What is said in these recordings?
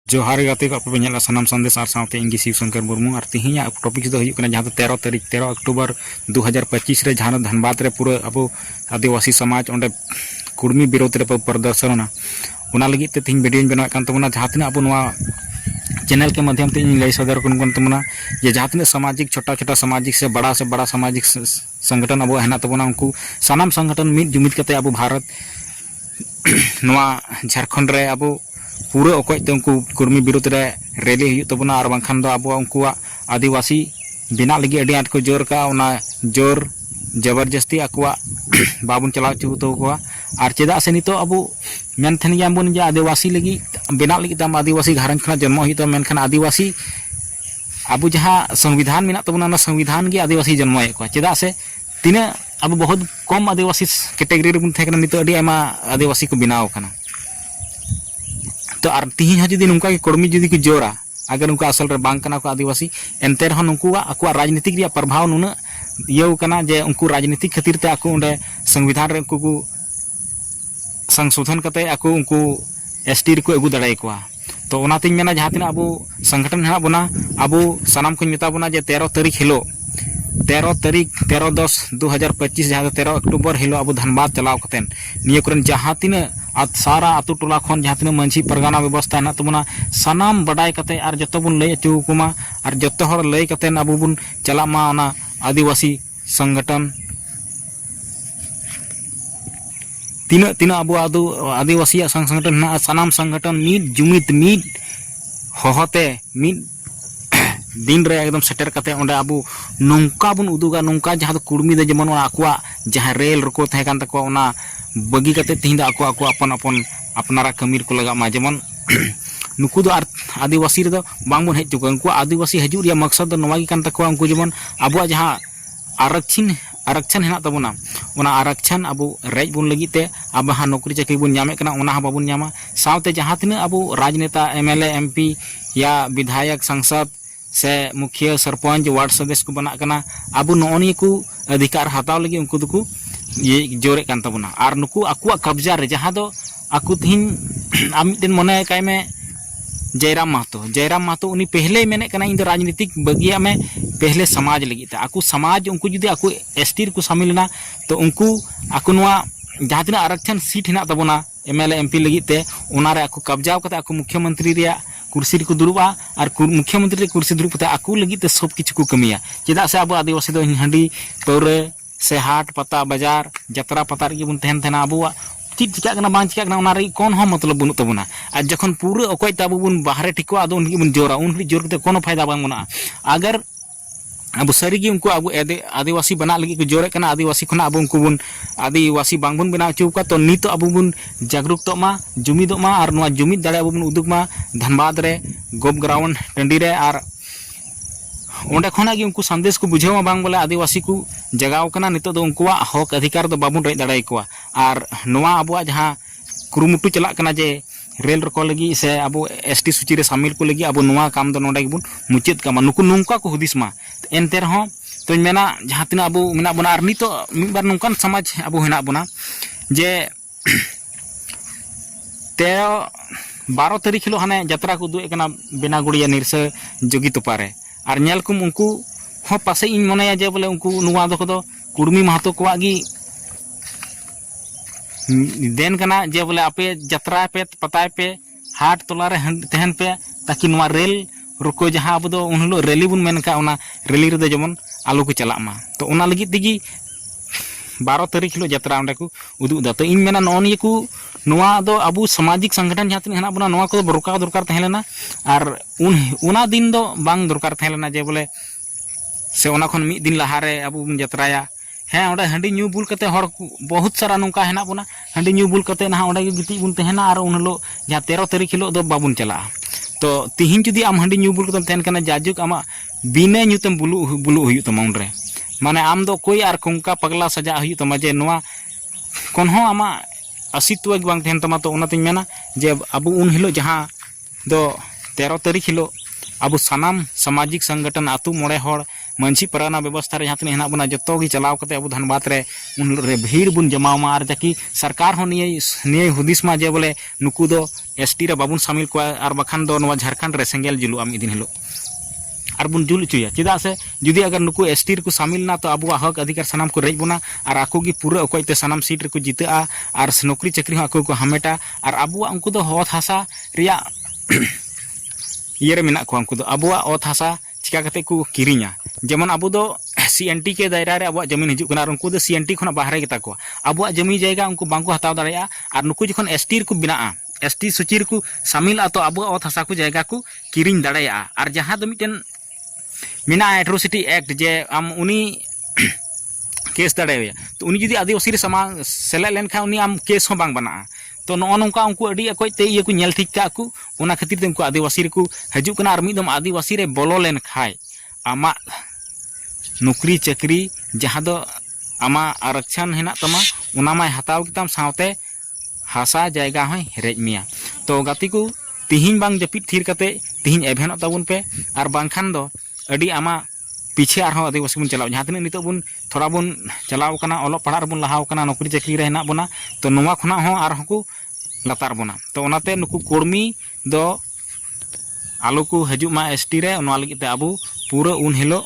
ᱡᱚᱦᱟᱨ ᱜᱮ ᱜᱟᱛᱮ ᱠᱚ ᱟᱯᱮ ᱯᱮ ᱧᱮᱞᱟ ᱥᱟᱱᱟᱢ ᱥᱟᱸᱫᱮᱥ ᱟᱨ ᱥᱟᱶᱛᱮ ᱤᱧ ᱜᱮ ᱥᱤᱵ ᱥᱚᱝᱠᱚᱨ ᱢᱩᱨᱢᱩ ᱟᱨ ᱛᱮᱦᱮᱧᱟᱜ ᱴᱚᱯᱤᱠ ᱫᱚ ᱦᱩᱭᱩᱜ ᱠᱟᱱᱟ ᱡᱟᱦᱟᱸ ᱫᱚ ᱛᱮᱨᱚ ᱛᱟᱹᱨᱤᱠᱷ ᱛᱮᱨᱚ ᱚᱠᱴᱳᱵᱚᱨ ᱫᱩ ᱦᱟᱡᱟᱨ ᱯᱚᱸᱪᱤᱥ ᱨᱮ ᱡᱟᱦᱟᱸ ᱫᱚ ᱫᱷᱟᱱᱵᱟᱫᱽ ᱨᱮ ᱯᱩᱨᱟᱹ ᱟᱵᱚ ᱟᱹᱫᱤᱵᱟᱹᱥᱤ ᱥᱚᱢᱟᱡᱽ ᱚᱸᱰᱮ ᱠᱩᱲᱢᱤ ᱵᱤᱨᱳᱫᱷ ᱨᱮ ᱯᱨᱚᱫᱚᱨᱥᱚᱱᱟ ᱚᱱᱟ ᱞᱟᱹᱜᱤᱫ ᱛᱮ ᱛᱮᱦᱮᱧ ᱵᱷᱤᱰᱤᱭᱳᱧ ᱵᱮᱱᱟᱣᱮᱫ ᱠᱟᱱ ᱛᱟᱵᱚᱱᱟ ᱡᱟᱦᱟᱸ ᱛᱤᱱᱟᱹᱜ ᱟᱵᱚ ᱱᱚᱣᱟ ᱪᱮᱱᱮᱞ ᱠᱮ ᱢᱟᱫᱽᱫᱷᱚᱢ ᱛᱮ ᱤᱧ ᱞᱟᱹᱭ ᱥᱚᱫᱚᱨ ᱠᱟᱱ ᱛᱟᱵᱚᱱᱟ ᱡᱮ ᱡᱟᱦᱟᱸ ᱛᱤᱱᱟᱹᱜ ᱥᱟᱢᱟᱡᱤᱠ ᱪᱷᱳᱴᱟ ᱪᱷᱳᱴᱟ ᱥᱟᱢᱟᱡᱤᱠ ᱥᱮ ᱵᱟᱲᱟ ᱥᱮ ᱵᱟᱲᱟ ᱥᱟᱢᱟᱡᱤᱠ ᱥᱚᱝᱜᱚᱴᱷᱚᱱ ᱟᱵᱚᱣᱟᱜ ᱦᱮᱱᱟᱜ ᱛᱟᱵᱚᱱᱟ ᱩᱱᱠᱩ ᱥᱟᱱᱟᱢ ᱥᱚᱝᱜᱚᱴᱷᱚᱱ ᱢᱤᱫ ᱡᱩᱢᱤᱫ ᱠᱟᱛᱮ ᱟᱵᱚ ᱵᱷᱟᱨᱚᱛ ᱱᱚᱣᱟ ᱡᱷᱟᱲᱠᱷᱚᱸᱰ ᱨᱮ ᱟᱵᱚ ᱯᱩᱨᱟᱹ ᱚᱠᱚᱡ ᱛᱮ ᱩᱱᱠᱩ ᱠᱚᱨᱢᱤ ᱵᱤᱨᱩᱫᱽ ᱨᱮ ᱨᱮᱞᱤ ᱦᱩᱭᱩᱜ ᱛᱟᱵᱚᱱᱟ ᱟᱨ ᱵᱟᱝᱠᱷᱟᱱ ᱫᱚ ᱟᱵᱚᱣᱟᱜ ᱩᱱᱠᱩᱣᱟᱜ ᱟᱹᱫᱤᱵᱟᱹᱥᱤ ᱵᱮᱱᱟᱜ ᱞᱟᱹᱜᱤᱫ ᱟᱹᱰᱤ ᱟᱸᱴ ᱠᱚ ᱡᱳᱨ ᱟᱠᱟᱫᱼᱟ ᱚᱱᱟ ᱡᱳᱨ ᱡᱚᱵᱚᱨ ᱡᱟᱹᱥᱛᱤ ᱟᱠᱚᱣᱟᱜ ᱵᱟᱵᱚᱱ ᱪᱟᱞᱟᱣ ᱦᱚᱪᱚ ᱟᱠᱚᱣᱟ ᱟᱨ ᱪᱮᱫᱟᱜ ᱥᱮ ᱱᱤᱛᱚᱜ ᱟᱵᱚ ᱢᱮᱱ ᱛᱟᱦᱮᱱ ᱜᱮᱭᱟ ᱵᱚᱱ ᱡᱮ ᱟᱹᱫᱤᱵᱟᱹᱥᱤ ᱞᱟᱹᱜᱤᱫ ᱵᱮᱱᱟᱜ ᱞᱟᱹᱜᱤᱫ ᱛᱮ ᱟᱢ ᱟᱹᱫᱤᱵᱟᱹᱥᱤ ᱜᱷᱟᱨᱚᱸᱡᱽ ᱠᱷᱚᱱᱟᱜ ᱡᱚᱱᱢᱚ ᱦᱩᱭᱩᱜ ᱛᱟᱢᱟ ᱢᱮᱱᱠᱷᱟᱱ ᱟᱹᱫᱤᱵᱟᱹᱥᱤ ᱟᱵᱚ ᱡᱟᱦᱟᱸ ᱥᱚᱝᱵᱤᱫᱷᱟᱱ ᱢᱮᱱᱟᱜ ᱛᱟᱵᱚᱱᱟ ᱚᱱᱟ ᱥᱚᱝᱵᱤᱫᱷᱟᱱ ᱜᱮ ᱟᱹᱫᱤᱵᱟᱹᱥᱤ ᱡᱚᱱᱢᱚᱭᱮᱫ ᱠᱚᱣᱟ ᱪᱮᱫᱟᱜ ᱥᱮ ᱛᱤᱱᱟᱹᱜ ᱟᱵᱚ ᱵᱚᱦᱩᱛ ᱠᱚᱢ ᱟᱹᱫᱤᱵᱟᱹᱥᱤ ᱠᱮᱴᱮᱜᱚᱨᱤ ᱨᱮᱵᱚᱱ ᱛᱟᱦᱮᱸ ᱠᱟᱱᱟ ᱱᱤᱛᱚᱜ ᱟᱹᱰᱤ ᱟᱭᱢᱟ ᱟᱹᱫᱤᱵᱟᱹᱥᱤ ᱠᱚ ᱵᱮᱱᱟᱣ ᱟᱠᱟᱱᱟ ᱛᱚ ᱟᱨ ᱛᱮᱦᱮᱧ ᱦᱚᱸ ᱡᱩᱫᱤ ᱱᱚᱝᱠᱟ ᱜᱮ ᱠᱚᱨᱢᱤ ᱡᱩᱫᱤ ᱠᱚ ᱡᱳᱨᱟ ᱟᱜᱟᱨ ᱩᱱᱠᱩ ᱟᱥᱚᱞ ᱨᱮ ᱵᱟᱝ ᱠᱟᱱᱟ ᱠᱚ ᱟᱹᱫᱤᱵᱟᱹᱥᱤ ᱮᱱᱛᱮ ᱨᱮᱦᱚᱸ ᱱᱩᱠᱩᱣᱟᱜ ᱟᱠᱚᱣᱟᱜ ᱨᱟᱡᱽᱱᱤᱛᱤ ᱨᱮᱭᱟᱜ ᱯᱨᱚᱵᱷᱟᱣ ᱱᱩᱱᱟᱹᱜ ᱤᱭᱟᱹᱣ ᱠᱟᱱᱟ ᱡᱮ ᱩᱱᱠᱩ ᱨᱟᱡᱽᱱᱤᱛᱤ ᱠᱷᱟᱹᱛᱤᱨ ᱛᱮ ᱟᱠᱚ ᱚᱸᱰᱮ ᱥᱚᱝᱵᱤᱫᱷᱟᱱ ᱨᱮ ᱩᱱᱠᱩ ᱠᱚ ᱥᱚᱝᱥᱳᱫᱷᱚᱱ ᱠᱟᱛᱮᱫ ᱟᱠᱚ ᱩᱱᱠᱩ ᱮᱥ ᱴᱤ ᱨᱮᱠᱚ ᱟᱹᱜᱩ ᱫᱟᱲᱮᱭᱟᱠᱚᱣᱟ ᱛᱚ ᱚᱱᱟᱛᱤᱧ ᱢᱮᱱᱟ ᱡᱟᱦᱟᱸ ᱛᱤᱱᱟᱹᱜ ᱟᱵᱚ ᱥᱚᱝᱜᱚᱴᱷᱚᱱ ᱦᱮᱱᱟᱜ ᱵᱚᱱᱟ ᱟᱵᱚ ᱥᱟᱱᱟᱢ ᱠᱚᱧ ᱢᱮᱛᱟ ᱵᱚᱱᱟ ᱡᱮ ᱛᱮᱨᱚ ᱛᱟᱹᱨᱤᱠᱷ ᱦᱤᱞᱳᱜ ᱛᱮᱨᱚ ᱛᱟᱹᱨᱤᱠᱷ ᱛᱮᱨᱚ ᱫᱚᱥ ᱫᱩ ᱦᱟᱡᱟᱨ ᱯᱚᱸᱪᱤᱥ ᱡᱟᱦᱟᱸ ᱫᱚ ᱛᱮᱨᱚ ᱚᱠᱴᱳᱵᱚᱨ ᱦᱤᱞᱳᱜ ᱟᱵᱚ ᱫᱷᱟᱱᱵᱟᱫᱽ ᱪᱟᱞᱟᱣ ᱠᱟᱛᱮᱫ ᱱᱤᱭᱟᱹ ᱠᱚᱨᱮᱱ ᱡᱟᱦᱟᱸ ᱛᱤᱱᱟᱹᱜ ᱥᱟᱨᱟ ᱟᱛᱳ ᱴᱚᱞᱟ ᱠᱷᱚᱱ ᱡᱟᱦᱟᱸ ᱛᱤᱱᱟᱹᱜ ᱢᱟᱺᱡᱷᱤ ᱯᱟᱨᱜᱟᱱᱟ ᱵᱮᱵᱚᱥᱛᱷᱟ ᱦᱮᱱᱟᱜ ᱛᱟᱵᱚᱱᱟ ᱥᱟᱱᱟᱢ ᱵᱟᱰᱟᱭ ᱠᱟᱛᱮᱫ ᱟᱨ ᱡᱚᱛᱚ ᱵᱚᱱ ᱞᱟᱹᱭ ᱦᱚᱪᱚ ᱟᱠᱚᱢᱟ ᱟᱨ ᱡᱚᱛᱚ ᱦᱚᱲ ᱞᱟᱹᱭ ᱠᱟᱛᱮᱫ ᱟᱵᱚ ᱵᱚᱱ ᱪᱟᱞᱟᱜ ᱢᱟ ᱚᱱᱟ ᱟᱹᱫᱤᱵᱟᱹᱥᱤ ᱥᱚᱝᱜᱚᱴᱷᱚᱱ ᱛᱤᱱᱟᱹᱜ ᱛᱤᱱᱟᱹᱜ ᱟᱵᱚ ᱟᱫᱚ ᱟᱹᱫᱤᱵᱟᱹᱥᱤᱭᱟᱜ ᱥᱟᱝ ᱥᱚᱝᱜᱚᱴᱷᱚᱱ ᱢᱮᱱᱟᱜᱼᱟ ᱥᱟᱱᱟᱢ ᱥᱚᱝᱜᱚᱴᱷᱚᱱ ᱢᱤᱫ ᱡᱩᱢᱤᱫ ᱢᱤᱫ ᱦᱚᱦᱚᱛᱮ ᱢᱤᱫ ᱫᱤᱱ ᱨᱮ ᱮᱠᱫᱚᱢ ᱥᱮᱴᱮᱨ ᱠᱟᱛᱮ ᱚᱸᱰᱮ ᱟᱵᱚ ᱱᱚᱝᱠᱟ ᱵᱚᱱ ᱩᱫᱩᱜᱟ ᱱᱚᱝᱠᱟ ᱡᱟᱦᱟᱸ ᱫᱚ ᱠᱩᱲᱢᱤ ᱫᱚ ᱡᱮᱢᱚᱱ ᱚᱱᱟ ᱟᱠᱚᱣᱟᱜ ᱡᱟᱦᱟᱸ ᱨᱮᱞ ᱨᱚᱠᱚ ᱛᱟᱦᱮᱸ ᱠᱟᱱ ᱛᱟᱠᱚᱣᱟ ᱚᱱᱟ ᱵᱟᱹᱜᱤ ᱠᱟᱛᱮ ᱛᱮᱦᱮᱧ ᱫᱚ ᱟᱠᱚ ᱟᱠᱚ ᱟᱯᱟᱱ ᱟᱯᱟᱱ ᱟᱯᱱᱟᱨᱟᱜ ᱠᱟᱹᱢᱤ ᱨᱮᱠᱚ ᱞᱟᱜᱟᱜ ᱢᱟ ᱡᱮᱢᱚᱱ ᱱᱩᱠᱩ ᱫᱚ ᱟᱨ ᱟᱹᱫᱤᱵᱟᱹᱥᱤ ᱨᱮᱫᱚ ᱵᱟᱝ ᱵᱚᱱ ᱦᱮᱡ ᱦᱚᱪᱚ ᱠᱚᱣᱟ ᱩᱱᱠᱩᱣᱟᱜ ᱟᱹᱫᱤᱵᱟᱹᱥᱤ ᱦᱤᱡᱩᱜ ᱨᱮᱭᱟᱜ ᱢᱚᱠᱥᱚᱫ ᱫᱚ ᱱᱚᱣᱟ ᱜᱮ ᱠᱟᱱ ᱛᱟᱠᱚᱣᱟ ᱩᱱᱠᱩ ᱡᱮᱢᱚᱱ ᱟᱵᱚᱣᱟᱜ ᱡᱟᱦᱟᱸ ᱟᱨᱟᱠᱪᱷᱤᱱ ᱟᱨᱟᱠᱪᱷᱟᱱ ᱦᱮᱱᱟᱜ ᱛᱟᱵᱚᱱᱟ ᱚᱱᱟ ᱟᱨᱟᱠᱪᱷᱟᱱ ᱟᱵᱚ ᱨᱮᱡ ᱵᱚᱱ ᱞᱟᱹᱜᱤᱫ ᱛᱮ ᱟᱵᱚ ᱦᱟᱸᱜ ᱱᱩᱠᱨᱤ ᱪᱟᱹᱠᱨᱤ ᱵᱚᱱ ᱧᱟᱢᱮᱫ ᱠᱟᱱᱟ ᱚᱱᱟ ᱦᱚᱸ ᱵᱟᱵᱚᱱ ᱧᱟᱢᱟ ᱥᱟᱶᱛᱮ ᱡᱟᱦᱟᱸ ᱛᱤᱱᱟᱹᱜ ᱟᱵᱚ ᱨᱟᱡᱽᱱᱮᱛᱟ ᱮᱢᱮᱞᱮ ᱮᱢᱯᱤ ᱭᱟ ᱵᱤᱫᱷᱟᱭᱚᱠ ᱥᱟᱝᱥᱚᱫᱽ ᱥᱮ ᱢᱩᱠᱷᱤᱭᱟᱹ ᱥᱚᱨᱯᱚᱧᱪ ᱣᱟᱨᱰ ᱥᱚᱫᱮᱥ ᱠᱚ ᱵᱮᱱᱟᱜ ᱠᱟᱱᱟ ᱟᱵᱚ ᱱᱚᱜᱼᱚ ᱱᱤᱭᱟᱹ ᱠᱚ ᱚᱫᱷᱤᱠᱟᱨ ᱦᱟᱛᱟᱣ ᱞᱟᱹᱜᱤᱫ ᱩᱱᱠᱩ ᱫᱚᱠᱚ ᱡᱳᱨᱮᱫ ᱠᱟᱱ ᱛᱟᱵᱚᱱᱟ ᱟᱨ ᱱᱩᱠᱩ ᱟᱠᱚᱣᱟᱜ ᱠᱟᱵᱽᱡᱟ ᱨᱮ ᱡᱟᱦᱟᱸ ᱫᱚ ᱟᱠᱚ ᱛᱮᱦᱮᱧ ᱟᱢ ᱢᱤᱫᱴᱮᱱ ᱢᱚᱱᱮ ᱠᱟᱭ ᱢᱮ ᱡᱚᱭᱨᱟᱢ ᱢᱟᱦᱟᱛᱚ ᱡᱚᱭᱨᱟᱢ ᱢᱟᱦᱟᱛᱚ ᱩᱱᱤ ᱯᱮᱦᱞᱮᱭ ᱢᱮᱱᱮᱫ ᱠᱟᱱᱟ ᱤᱧ ᱫᱚ ᱨᱟᱡᱽᱱᱤᱛᱤ ᱵᱟᱹᱜᱤᱭᱟᱜ ᱢᱮ ᱯᱮᱦᱞᱮ ᱥᱚᱢᱟᱡᱽ ᱞᱟᱹᱜᱤᱫ ᱛᱮ ᱟᱠᱚ ᱥᱚᱢᱟᱡᱽ ᱩᱱᱠᱩ ᱡᱩᱫᱤ ᱟᱠᱚ ᱮᱥ ᱴᱤ ᱨᱮᱠᱚ ᱥᱟᱹᱢᱤᱞᱮᱱᱟ ᱛᱚ ᱩᱱᱠᱩ ᱟᱠᱚ ᱱᱚᱣᱟ ᱡᱟᱦᱟᱸ ᱛᱤᱱᱟᱹᱜ ᱟᱨᱚᱠᱠᱷᱚᱱ ᱥᱤᱴ ᱦᱮᱱᱟᱜ ᱛᱟᱵᱚᱱᱟ M L A M P ᱞᱟᱹᱜᱤᱫ ᱛᱮ ᱚᱱᱟ ᱨᱮ ᱟᱠᱚ ᱠᱟᱵᱽᱡᱟᱣ ᱠᱟᱛᱮ ᱟᱠᱚ ᱢᱩᱠᱷᱭᱟᱹ ᱢᱚᱱᱛᱨᱤ ᱨᱮᱭᱟᱜ ᱠᱩᱨᱥᱤ ᱨᱮᱠᱚ ᱫᱩᱲᱩᱵᱼᱟ ᱟᱨ ᱢᱩᱠᱷᱭᱟᱹ ᱢᱚᱱᱛᱨᱤ ᱨᱮᱭᱟᱜ ᱠᱩᱨᱥᱤ ᱫᱩᱲᱩᱵ ᱠᱟᱛᱮ ᱟᱠᱚ ᱞᱟᱹᱜᱤᱫ ᱛᱮ ᱥᱚᱵᱽ ᱠᱤᱪᱷᱩ ᱠᱚ ᱠᱟᱹᱢᱤᱭᱟ ᱪᱮᱫᱟᱜ ᱥᱮ ᱟᱵᱚ ᱟᱹᱫᱤᱵᱟᱹᱥᱤ ᱫᱚ ᱦᱟᱺᱰᱤ ᱯᱟᱹᱣᱨᱟᱹ ᱥᱮ ᱦᱟᱴ ᱯᱟᱛᱟ ᱵᱟᱡᱟᱨ ᱡᱟᱛᱨᱟ ᱯᱟᱛᱟ ᱨᱮᱜᱮ ᱵᱚᱱ ᱛᱟᱦᱮᱱ ᱛᱟᱦᱮᱱᱟ ᱟᱵᱚᱣᱟᱜ ᱪᱮᱫ ᱪᱤᱠᱟᱹᱜ ᱠᱟᱱᱟ ᱵᱟᱝ ᱪᱤᱠᱟᱹᱜ ᱠᱟᱱᱟ ᱚᱱᱟ ᱨᱮ ᱠᱚᱱᱚ ᱦᱚᱸ ᱢᱚᱛᱞᱚᱵᱽ ᱵᱟᱹᱱᱩᱜ ᱛᱟᱵᱚᱱᱟ ᱟᱨ ᱡᱚᱠᱷᱚᱱ ᱯᱩᱨᱟᱹ ᱚᱠᱚᱭ ᱛᱮ ᱟᱵᱚ ᱵᱚᱱ ᱵᱟᱦᱨᱮ ᱴᱷᱤᱠᱚᱜᱼᱟ ᱟᱫᱚ ᱩᱱ ᱜᱷᱟᱹᱲᱤᱡ ᱵᱚᱱ ᱡᱳᱨᱟ ᱩᱱ ᱜᱷᱟᱹᱲᱤᱡ ᱡᱳᱨ ᱠᱟᱛᱮ ᱠᱚᱱᱚ ᱯᱷᱟᱭᱫᱟ ᱵᱟᱝ ᱢᱮᱱᱟᱜᱼᱟ ᱟᱜᱟᱨ ᱟᱵᱚ ᱥᱟᱹᱨᱤᱜᱮ ᱩᱱᱠᱩ ᱟᱵᱚ ᱟᱹᱫᱤᱵᱟᱹᱥᱤ ᱵᱮᱱᱟᱜ ᱞᱟᱹᱜᱤᱫ ᱠᱚ ᱡᱳᱨᱮᱫ ᱠᱟᱱᱟ ᱟᱹᱫᱤᱵᱟᱹᱥᱤ ᱠᱷᱚᱱᱟᱜ ᱟᱵᱚ ᱩᱱᱠᱩ ᱵᱚᱱ ᱟᱹᱫᱤᱵᱟᱹᱥᱤ ᱵᱟᱝᱵᱚᱱ ᱵᱮᱱᱟᱣ ᱦᱚᱪᱚ ᱠᱚᱣᱟ ᱛᱚ ᱱᱤᱛᱚᱜ ᱟᱵᱚ ᱵᱚᱱ ᱡᱟᱜᱽᱨᱩᱠᱛᱚᱜ ᱢᱟ ᱡᱩᱢᱤᱫᱚᱜ ᱢᱟ ᱟᱨ ᱱᱚᱣᱟ ᱡᱩᱢᱤᱫ ᱫᱟᱲᱮ ᱟᱵᱚ ᱵᱚᱱ ᱩᱫᱩᱜᱽ ᱢᱟ ᱫᱷᱟᱱᱵᱟᱫᱽ ᱨᱮ ᱜᱚᱵᱽ ᱜᱨᱟᱣᱩᱱᱰ ᱴᱟᱺᱰᱤ ᱨᱮ ᱟᱨ ᱚᱸᱰᱮ ᱠᱷᱚᱱᱟᱜ ᱜᱮ ᱩᱱᱠᱩ ᱥᱟᱸᱫᱮᱥ ᱠᱚ ᱵᱩᱡᱷᱟᱹᱣ ᱢᱟ ᱵᱟᱝ ᱵᱚᱞᱮ ᱟᱹᱫᱤᱵᱟᱹᱥᱤ ᱠᱚ ᱡᱟᱜᱟᱣ ᱠᱟᱱᱟ ᱱᱤᱛᱚᱜ ᱫᱚ ᱩᱱᱠᱩᱣᱟᱜ ᱦᱚᱸᱠ ᱚᱫᱷᱤᱠᱟᱨ ᱫᱚ ᱵᱟᱵᱚᱱ ᱨᱮᱡ ᱫᱟᱲᱮᱭᱟᱠᱚᱣᱟ ᱟᱨ ᱱᱚᱣᱟ ᱟᱵᱚᱣᱟᱜ ᱡᱟᱦᱟᱸ ᱠᱩᱨᱩᱢᱩᱴᱩ ᱪᱟᱞᱟᱜ ᱠᱟᱱᱟ ᱡᱮ ᱨᱮᱞ ᱨᱮᱠᱚ ᱞᱟᱹᱜᱤᱫ ᱥᱮ ᱟᱵᱚ ᱮᱥ ᱴᱤ ᱥᱩᱪᱤ ᱨᱮ ᱥᱟᱢᱤᱞ ᱠᱚ ᱞᱟᱹᱜᱤᱫ ᱟᱵᱚ ᱱᱚᱣᱟ ᱠᱟᱢ ᱫᱚ ᱱᱚᱰᱮ ᱜᱮᱵᱚᱱ ᱢᱩᱪᱟᱹᱫ ᱠᱟᱜ ᱢᱟ ᱱᱩᱠᱩ ᱱᱚᱝᱠᱟ ᱠᱚ ᱦᱩᱫᱤᱥ ᱢᱟ ᱮᱱᱛᱮ ᱨᱮᱦᱚᱸ ᱛᱚᱧ ᱢᱮᱱᱟ ᱡᱟᱦᱟᱸ ᱛᱤᱱᱟᱹᱜ ᱟᱵᱚ ᱢᱮᱱᱟᱜ ᱵᱚᱱᱟ ᱟᱨ ᱱᱤᱛᱚᱜ ᱢᱤᱫ ᱵᱟᱨ ᱱᱚᱝᱠᱟᱱ ᱥᱚᱢᱟᱡᱽ ᱟᱵᱚ ᱦᱮᱱᱟᱜ ᱵᱚᱱᱟ ᱡᱮ ᱛᱮ ᱵᱟᱨᱚ ᱛᱟᱹᱨᱤᱠᱷ ᱦᱤᱞᱳᱜ ᱦᱟᱱᱮ ᱡᱟᱛᱨᱟ ᱠᱚ ᱩᱫᱩᱜ ᱮᱫ ᱠᱟᱱᱟ ᱵᱮᱱᱟᱜᱩᱲᱤᱭᱟᱹ ᱱᱤᱨᱥᱟᱹ ᱡᱩᱜᱤ ᱛᱚᱯᱟ ᱨᱮ ᱟᱨ ᱧᱮᱞ ᱠᱚᱢ ᱩᱱᱠᱩ ᱦᱚᱸ ᱯᱟᱥᱮᱡ ᱤᱧ ᱢᱚᱱᱮᱭᱟ ᱡᱮ ᱵᱚᱞᱮ ᱩᱱᱠᱩ ᱱᱚᱣᱟ ᱫᱚ ᱠᱚᱫᱚ ᱠᱩᱲᱢᱤ ᱢᱟᱦᱟᱛᱚ ᱠᱚᱣᱟᱜ ᱜᱮ ᱫᱮᱱ ᱠᱟᱱᱟ ᱡᱮ ᱵᱚᱞᱮ ᱟᱯᱮ ᱡᱟᱛᱨᱟᱭ ᱯᱮ ᱯᱟᱛᱟᱭ ᱯᱮ ᱦᱟᱴ ᱛᱚᱞᱟ ᱨᱮ ᱛᱟᱦᱮᱱ ᱯᱮ ᱛᱟᱠᱤ ᱱᱚᱣᱟ ᱨᱮᱞ ᱨᱳᱠᱳ ᱡᱟᱦᱟᱸ ᱟᱵᱚ ᱫᱚ ᱩᱱ ᱦᱤᱞᱳᱜ ᱨᱮᱞᱤ ᱵᱚᱱ ᱢᱮᱱ ᱠᱟᱜᱼᱟ ᱚᱱᱟ ᱨᱮᱞᱤ ᱨᱮᱫᱚ ᱡᱮᱢᱚᱱ ᱟᱞᱚ ᱠᱚ ᱪᱟᱞᱟᱜ ᱢᱟ ᱛᱚ ᱚᱱᱟ ᱞᱟᱹᱜᱤᱫ ᱛᱮᱜᱮ ᱵᱟᱨᱚ ᱛᱟᱹᱨᱤᱠᱷ ᱦᱤᱞᱳᱜ ᱡᱟᱛᱨᱟ ᱚᱸᱰᱮ ᱠᱚ ᱩᱫᱩᱜ ᱮᱫᱟ ᱛᱚ ᱤᱧ ᱢᱮᱱᱟ ᱱᱚᱜᱼᱚ ᱱᱤᱭᱟᱹ ᱠᱚ ᱱᱚᱣᱟ ᱫᱚ ᱟᱵᱚ ᱥᱟᱢᱟᱡᱤᱠ ᱥᱚᱝᱜᱚᱴᱷᱚᱱ ᱡᱟᱦᱟᱸ ᱛᱤᱱᱟᱹᱜ ᱦᱮᱱᱟᱜ ᱵᱚᱱᱟ ᱱᱚᱣᱟ ᱠᱚᱫᱚ ᱨᱚᱠᱟᱣ ᱫᱚᱨᱠᱟᱨ ᱛᱟᱦᱮᱸ ᱞᱮᱱᱟ ᱟᱨ ᱩᱱ ᱚᱱᱟ ᱫᱤᱱ ᱫᱚ ᱵᱟᱝ ᱫᱚᱨᱠᱟᱨ ᱛᱟᱦᱮᱸ ᱞᱮᱱᱟ ᱡᱮ ᱵᱚᱞᱮ ᱥᱮ ᱚᱱᱟ ᱠᱷᱚᱱ ᱢᱤᱫ ᱫᱤᱱ ᱞᱟᱦᱟ ᱨᱮ ᱟᱵᱚ ᱵᱚᱱ ᱡᱟᱛᱨᱟᱭᱟ ᱦᱮᱸ ᱚᱸᱰᱮ ᱦᱟᱺᱰᱤ ᱧᱩ ᱵᱩᱞ ᱠᱟᱛᱮᱫ ᱦᱚᱲ ᱠᱚ ᱵᱚᱦᱩᱛ ᱥᱟᱨᱟ ᱱᱚᱝᱠᱟ ᱦᱮᱱᱟᱜ ᱵᱚᱱᱟ ᱦᱟᱺᱰᱤ ᱧᱩ ᱵᱩᱞ ᱠᱟᱛᱮᱫ ᱱᱟᱦᱟᱜ ᱚᱸᱰᱮ ᱜᱮ ᱜᱤᱛᱤᱡ ᱵᱚᱱ ᱛᱟᱦᱮᱱᱟ ᱟᱨ ᱩᱱ ᱦᱤᱞᱳᱜ ᱡᱟᱦᱟᱸ ᱛᱮᱨᱚ ᱛᱟᱹᱨᱤᱠᱷ ᱦᱤᱞᱳᱜ ᱫᱚ ᱵᱟᱵᱚᱱ ᱪᱟᱞᱟᱜᱼᱟ ᱛᱚ ᱛᱤᱦᱤᱧ ᱡᱩᱫᱤ ᱟᱢ ᱦᱟᱺᱰᱤ ᱧᱩ ᱵᱩᱞ ᱠᱟᱛᱮᱢ ᱛᱟᱦᱮᱱ ᱠᱟᱱᱟ ᱡᱟᱭᱡᱩᱜᱽ ᱟᱢᱟᱜ ᱵᱤᱱᱟᱹ ᱧᱩ ᱛᱮᱢ ᱵᱩᱞᱩᱜ ᱵᱩᱞᱩᱜ ᱦᱩᱭᱩᱜ ᱛᱟᱢᱟ ᱩᱱ ᱨᱮ ᱢᱟᱱᱮ ᱟᱢ ᱫᱚ ᱚᱠᱚᱭ ᱟᱨ ᱚᱱᱠᱟ ᱯᱟᱜᱽᱞᱟ ᱥᱟᱡᱟᱜ ᱦᱩᱭᱩᱜ ᱛᱟᱢᱟ ᱡᱮ ᱱᱚᱣᱟ ᱠᱚᱱᱦᱚᱸ ᱟᱢᱟᱜ ᱟᱥᱤᱛᱛᱚ ᱜᱮ ᱵᱟᱝ ᱛᱟᱦᱮᱱ ᱛᱟᱢᱟ ᱛᱚ ᱚᱱᱟᱛᱤᱧ ᱢᱮᱱᱟ ᱡᱮ ᱟᱵᱚ ᱩᱱ ᱦᱤᱞᱳᱜ ᱡᱟᱦᱟᱸ ᱫᱚ ᱛᱮᱨᱚ ᱛᱟᱹᱨᱤᱠᱷ ᱦᱤᱞᱳᱜ ᱟᱵᱚ ᱥᱟᱱᱟᱢ ᱥᱟᱢᱟᱡᱤᱠ ᱥᱚᱝᱜᱚᱴᱷᱚᱱ ᱟᱹᱛᱩ ᱢᱚᱬᱮ ᱦᱚᱲ ᱢᱟᱺᱡᱷᱤ ᱯᱟᱨᱜᱟᱱᱟ ᱵᱮᱵᱚᱥᱛᱷᱟ ᱨᱮ ᱡᱟᱦᱟᱸ ᱛᱤᱱᱟᱹᱜ ᱦᱮᱱᱟᱜ ᱵᱚᱱᱟ ᱡᱚᱛᱚ ᱜᱮ ᱪᱟᱞᱟᱣ ᱠᱟᱛᱮᱫ ᱟᱵᱚ ᱫᱷᱟᱱᱵᱟᱫᱽ ᱨᱮ ᱩᱱ ᱦᱤᱞᱳᱜ ᱨᱮ ᱵᱷᱤᱲ ᱵᱚᱱ ᱡᱚᱢᱟᱣ ᱢᱟ ᱟᱨ ᱛᱟᱠᱤ ᱥᱚᱨᱠᱟᱨ ᱦᱚᱸ ᱱᱤᱭᱟᱹᱭ ᱱᱤᱭᱟᱹᱭ ᱦᱩᱫᱤᱥ ᱢᱟ ᱡᱮ ᱵᱚᱞᱮ ᱱᱩᱠᱩ ᱫᱚ ᱮᱥ ᱴᱤ ᱨᱮ ᱵᱟᱵᱚᱱ ᱥᱟᱹᱢᱤᱞ ᱠᱚᱣᱟ ᱟᱨ ᱵᱟᱠᱷᱟᱱ ᱫᱚ ᱱᱚᱣᱟ ᱡᱷᱟᱲᱠᱷᱚᱸᱰ ᱨᱮ ᱥᱮᱸᱜᱮᱞ ᱡᱩᱞᱩᱜᱼᱟ ᱢᱤᱫ ᱫᱤᱱ ᱦᱤᱞᱳᱜ ᱟᱨ ᱵᱚᱱ ᱡᱩᱞ ᱚᱪᱚᱭᱟ ᱪᱮᱫᱟᱜ ᱥᱮ ᱡᱩᱫᱤ ᱟᱜᱟᱨ ᱱᱩᱠᱩ ᱮᱥ ᱴᱤ ᱨᱮᱠᱚ ᱥᱟᱢᱤᱞ ᱮᱱᱟ ᱛᱚ ᱟᱵᱚᱣᱟᱜ ᱦᱚᱠ ᱟᱫᱷᱤᱠᱟᱨ ᱥᱟᱱᱟᱢ ᱠᱚ ᱨᱮᱡ ᱵᱚᱱᱟ ᱟᱨ ᱟᱠᱚ ᱜᱮ ᱯᱩᱨᱟᱹ ᱚᱠᱚᱭ ᱛᱮ ᱥᱟᱱᱟᱢ ᱥᱤᱴ ᱨᱮᱠᱚ ᱡᱤᱛᱟᱹᱜᱼᱟ ᱟᱨ ᱱᱩᱠᱨᱤ ᱪᱟᱠᱨᱤ ᱦᱚᱸ ᱟᱠᱚ ᱜᱮᱠᱚ ᱦᱟᱢᱮᱴᱟ ᱟᱨ ᱟᱵᱚᱣᱟᱜ ᱩᱱᱠᱩ ᱫᱚ ᱚᱛ ᱦᱟᱥᱟ ᱨᱮᱭᱟᱜ ᱤᱭᱟᱹ ᱨᱮ ᱢᱮᱱᱟᱜ ᱠᱚᱣᱟ ᱩᱱᱠᱩ ᱫᱚ ᱟᱵᱚᱣᱟᱜ ᱚᱛ ᱦᱟᱥᱟ ᱪᱮᱠᱟ ᱠᱟᱛᱮ ᱠᱚ ᱠᱤᱨᱤᱧᱟ ᱡᱮᱢᱚᱱ ᱟᱵᱚ ᱫᱚ ᱥᱤ ᱮᱱ ᱴᱤ ᱠᱮ ᱫᱟᱭᱨᱟ ᱨᱮ ᱟᱵᱚᱣᱟᱜ ᱡᱚᱢᱤᱱ ᱦᱤᱡᱩᱜ ᱠᱟᱱᱟ ᱟᱨ ᱩᱱᱠᱩ ᱫᱚ ᱥᱤ ᱮᱱ ᱴᱤ ᱠᱷᱚᱱᱟᱜ ᱵᱟᱦᱨᱮ ᱜᱮᱛᱟ ᱠᱚᱣᱟ ᱟᱵᱚᱣᱟᱜ ᱡᱚᱢᱤ ᱡᱟᱭᱜᱟ ᱩᱱᱠᱩ ᱵᱟᱝ ᱠᱚ ᱦᱟᱛᱟᱣ ᱫᱟᱲᱮᱭᱟᱜᱼᱟ ᱟᱨ ᱱᱩᱠᱩ ᱡᱚᱠᱷᱚᱱ ᱮᱥ ᱴᱤ ᱨᱮᱠᱚ ᱵᱮᱱᱟᱜᱼᱟ ᱮᱥ ᱴᱤ ᱥᱩᱪᱤ ᱨᱮᱠᱚ ᱥᱟᱢᱤᱞᱚᱜᱼᱟ ᱛᱚ ᱟᱵᱚᱣᱟᱜ ᱚᱛ ᱦᱟᱥᱟ ᱠᱚ ᱡᱟᱭᱜᱟ ᱠᱚ ᱠᱤᱨᱤᱧ ᱫᱟᱲᱮᱭᱟᱜᱼᱟ ᱟᱨ ᱡᱟᱦᱟᱸ ᱫᱚ ᱢᱤᱫᱴᱮᱱ ᱢᱮᱱᱟᱜᱼᱟ ᱮᱴᱨᱳᱥᱤᱴᱤ ᱮᱠᱴ ᱡᱮ ᱟᱢ ᱩᱱᱤ ᱠᱮᱥ ᱫᱟᱲᱮᱣᱟᱭᱟ ᱛᱚ ᱩᱱᱤ ᱡᱩᱫᱤ ᱟᱹᱫᱤᱵᱟᱹᱥᱤ ᱨᱮ ᱥᱟᱢᱟᱝ ᱥᱮᱞᱮᱫ ᱞᱮᱱᱠᱷᱟᱱ ᱩᱱᱤ ᱟᱢ ᱠᱮᱥ ᱦᱚᱸ ᱵᱟᱝ ᱵᱟᱱᱟᱜᱼᱟ ᱛᱚ ᱱᱚᱜᱼᱚ ᱱᱚᱝᱠᱟ ᱩᱱᱠᱩ ᱟᱹᱰᱤ ᱚᱠᱚᱡ ᱛᱮ ᱤᱭᱟᱹ ᱠᱚ ᱧᱮᱞ ᱴᱷᱤᱠ ᱠᱟᱜᱼᱟ ᱠᱚ ᱚᱱᱟ ᱠᱷᱟᱹᱛᱤᱨ ᱛᱮ ᱩᱱᱠᱩ ᱟᱹᱫᱤᱵᱟᱹᱥᱤ ᱨᱮᱠᱚ ᱦᱤᱡᱩᱜ ᱠᱟᱱᱟ ᱟᱨ ᱢᱤᱫ ᱫᱚᱢ ᱟᱹᱫᱤᱵᱟᱹᱥᱤ ᱨᱮ ᱵᱚᱞᱚ ᱞᱮᱱᱠᱷᱟᱱ ᱟᱢᱟᱜ ᱱᱚᱠᱨᱤ ᱪᱟᱹᱠᱨᱤ ᱡᱟᱦᱟᱸ ᱫᱚ ᱟᱢᱟᱜ ᱟᱨᱚᱠᱪᱷᱚᱱ ᱦᱮᱱᱟᱜ ᱛᱟᱢᱟ ᱚᱱᱟ ᱢᱟᱭ ᱦᱟᱛᱟᱣ ᱜᱮᱛᱟᱢ ᱥᱟᱶᱛᱮ ᱦᱟᱥᱟ ᱡᱟᱭᱜᱟ ᱦᱚᱸᱭ ᱨᱮᱡ ᱢᱮᱭᱟ᱾ ᱛᱚ ᱜᱟᱛᱮ ᱠᱚ ᱛᱤᱦᱤᱧ ᱵᱟᱝ ᱡᱟᱹᱯᱤᱫ ᱛᱷᱤᱨ ᱠᱟᱛᱮ ᱛᱤᱦᱤᱧ ᱮᱵᱷᱮᱱᱚᱜ ᱛᱟᱵᱚᱱ ᱯᱮ ᱟᱨ ᱵᱟᱝᱠᱷᱟᱱ ᱫᱚ ᱟᱹᱰᱤ ᱟᱭᱢᱟ ᱯᱤᱪᱷᱮ ᱟᱨᱦᱚᱸ ᱟᱹᱫᱤᱵᱟᱹᱥᱤ ᱵᱚᱱ ᱪᱟᱞᱟᱜᱼᱟ᱾ ᱡᱟᱦᱟᱸ ᱛᱤᱱᱟᱹᱜ ᱱᱤᱛᱚᱜ ᱵᱚᱱ ᱛᱷᱚᱲᱟ ᱵᱚᱱ ᱪᱟᱞᱟᱣ ᱟᱠᱟᱱᱟ ᱚᱞᱚᱜ ᱯᱟᱲᱦᱟᱜ ᱨᱮᱵᱚᱱ ᱞᱟᱦᱟ ᱟᱠᱟᱱᱟ ᱱᱚᱠᱨᱤ ᱪᱟᱹᱠᱨᱤ ᱨᱮ ᱦᱮᱱᱟᱜ ᱵᱚᱱᱟ ᱛᱚ ᱱᱚᱣᱟ ᱠᱷᱚᱱᱟᱜ ᱦᱚᱸ ᱟᱨᱦᱚᱸ ᱠᱚ ᱞᱟᱛᱟᱨ ᱵᱚᱱᱟ᱾ ᱛᱚ ᱚᱱᱟᱛᱮ ᱱᱩᱠᱩ ᱠᱚᱨᱢᱤ ᱫᱚ ᱟᱞᱚ ᱠᱚ ᱦᱤᱡᱩᱜ ᱢᱟ ᱮᱥ ᱴᱤ ᱨᱮ ᱱᱚᱣᱟ ᱞᱟᱹᱜᱤᱫ ᱛᱮ ᱟᱵᱚ ᱯᱩᱨᱟᱹ ᱩᱱ ᱦᱤᱞᱚᱜ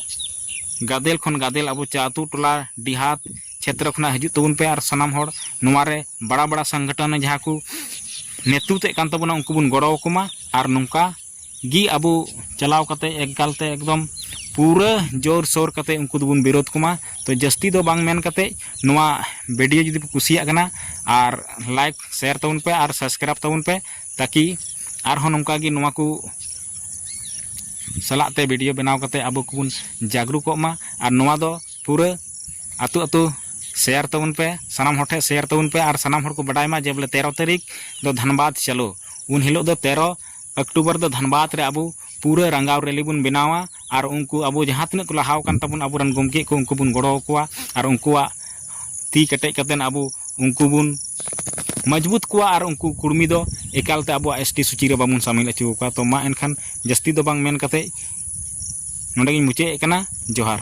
ᱜᱟᱫᱮᱞ ᱠᱷᱚᱱ ᱜᱟᱫᱮᱞ ᱟᱵᱚ ᱟᱹᱛᱩ ᱴᱚᱞᱟ ᱰᱤᱦᱟᱛ ᱪᱷᱮᱛᱨᱚ ᱠᱷᱚᱱᱟᱜ ᱦᱤᱡᱩᱜ ᱛᱟᱵᱚᱱ ᱯᱮ ᱟᱨ ᱥᱟᱱᱟᱢ ᱦᱚᱲ ᱱᱚᱣᱟ ᱨᱮ ᱵᱟᱲᱟ ᱵᱟᱲᱟ ᱥᱚᱝᱜᱚᱴᱷᱚᱱ ᱡᱟᱦᱟᱸ ᱠᱚ ᱱᱮᱛᱨᱤᱛᱮᱫ ᱠᱟᱱ ᱛᱟᱵᱚᱱᱟ ᱩᱱᱠᱩ ᱵᱚᱱ ᱜᱚᱲᱚ ᱟᱠᱚ ᱢᱟ ᱟᱨ ᱱᱚᱝᱠᱟ ᱜᱮ ᱟᱵᱚ ᱪᱟᱞᱟᱣ ᱠᱟᱛᱮ ᱮᱠᱟᱞ ᱛᱮ ᱮᱠᱫᱚᱢ ᱯᱩᱨᱟᱹ ᱡᱳᱨ ᱥᱳᱨ ᱠᱟᱛᱮ ᱩᱱᱠᱩ ᱫᱚᱵᱚᱱ ᱵᱤᱨᱳᱫᱷ ᱠᱚᱢᱟ ᱛᱚ ᱡᱟᱹᱥᱛᱤ ᱫᱚ ᱵᱟᱝ ᱢᱮᱱ ᱠᱟᱛᱮ ᱱᱚᱣᱟ ᱵᱷᱤᱰᱤᱭᱳ ᱡᱩᱫᱤ ᱯᱮ ᱠᱩᱥᱤᱭᱟᱜ ᱠᱟᱱᱟ ᱟᱨ ᱞᱟᱭᱤᱠ ᱥᱮᱭᱟᱨ ᱛᱟᱵᱚᱱ ᱯᱮ ᱟᱨ ᱥᱟᱵᱥᱠᱨᱟᱭᱤᱵᱽ ᱛᱟᱵᱚᱱ ᱯᱮ ᱛᱟᱠᱤ ᱟᱨᱦᱚᱸ ᱱᱚᱝᱠᱟ ᱜᱮ ᱱᱚᱣᱟ ᱠᱚ ᱥᱟᱞᱟᱜ ᱛᱮ ᱵᱷᱤᱰᱤᱭᱳ ᱵᱮᱱᱟᱣ ᱠᱟᱛᱮ ᱟᱵᱚ ᱠᱚᱵᱚᱱ ᱡᱟᱜᱽᱨᱩᱠᱚᱜ ᱢᱟ ᱟᱨ ᱱᱚᱣᱟ ᱫᱚ ᱯᱩᱨᱟᱹ ᱟᱹᱛᱩ ᱟᱹᱛᱩ ᱥᱮᱭᱟᱨ ᱛᱟᱵᱚᱱ ᱯᱮ ᱥᱟᱱᱟᱢ ᱦᱚᱲ ᱴᱷᱮᱱ ᱥᱮᱭᱟᱨ ᱛᱟᱵᱚᱱ ᱯᱮ ᱟᱨ ᱥᱟᱱᱟᱢ ᱦᱚᱲ ᱠᱚ ᱵᱟᱰᱟᱭ ᱢᱟ ᱡᱮ ᱵᱚᱞᱮ ᱛᱮᱨᱚ ᱛᱟᱹᱨᱤᱠᱷ ᱫᱚ ᱫᱷᱟᱱᱵᱟᱫᱽ ᱪᱟᱞᱳ ᱩᱱ ᱦᱤᱞᱳᱜ ᱫᱚ ᱛᱮᱨᱚ ᱚᱠᱴᱩᱵᱚᱨ ᱫᱚ ᱫᱷᱟᱱᱵᱟᱫᱽ ᱨᱮ ᱟᱵᱚ ᱯᱩᱨᱟᱹ ᱨᱟᱸᱜᱟᱣ ᱨᱮᱞᱤ ᱵᱚᱱ ᱵᱮᱱᱟᱣᱟ ᱟᱨ ᱩᱱᱠᱩ ᱟᱵᱚ ᱡᱟᱦᱟᱸ ᱛᱤᱱᱟᱹᱜ ᱠᱚ ᱞᱟᱦᱟ ᱟᱠᱟᱱ ᱛᱟᱵᱚᱱ ᱟᱵᱚ ᱨᱮᱱ ᱜᱚᱢᱠᱮ ᱠᱚ ᱩᱱᱠᱩ ᱵᱚᱱ ᱜᱚᱲᱚ ᱟᱠᱚᱣᱟ ᱟᱨ ᱩᱱᱠᱩᱣᱟᱜ ᱛᱤ ᱠᱮᱴᱮᱡ ᱠᱟᱛᱮᱫ ᱟᱵᱚ ᱩᱱᱠᱩ ᱵᱚᱱ ᱢᱚᱡᱽᱵᱩᱛ ᱠᱚᱣᱟ ᱟᱨ ᱩᱱᱠᱩ ᱠᱩᱲᱢᱤ ᱫᱚ ᱮᱠᱟᱞ ᱛᱮ ᱟᱵᱚᱣᱟᱜ ᱮᱥ ᱴᱤ ᱥᱩᱪᱤ ᱨᱮ ᱵᱟᱵᱚᱱ ᱥᱟᱹᱢᱤᱞ ᱦᱚᱪᱚ ᱟᱠᱚᱣᱟ ᱛᱚ ᱢᱟ ᱮᱱᱠᱷᱟᱱ ᱡᱟᱹᱥᱛᱤ ᱫᱚ ᱵᱟᱝ ᱢᱮᱱ ᱠᱟᱛᱮᱫ ᱱᱚᱰᱮ ᱜᱮᱧ ᱢᱩᱪᱟᱹᱫ ᱮᱫ ᱠᱟᱱᱟ ᱡᱚᱦᱟᱨ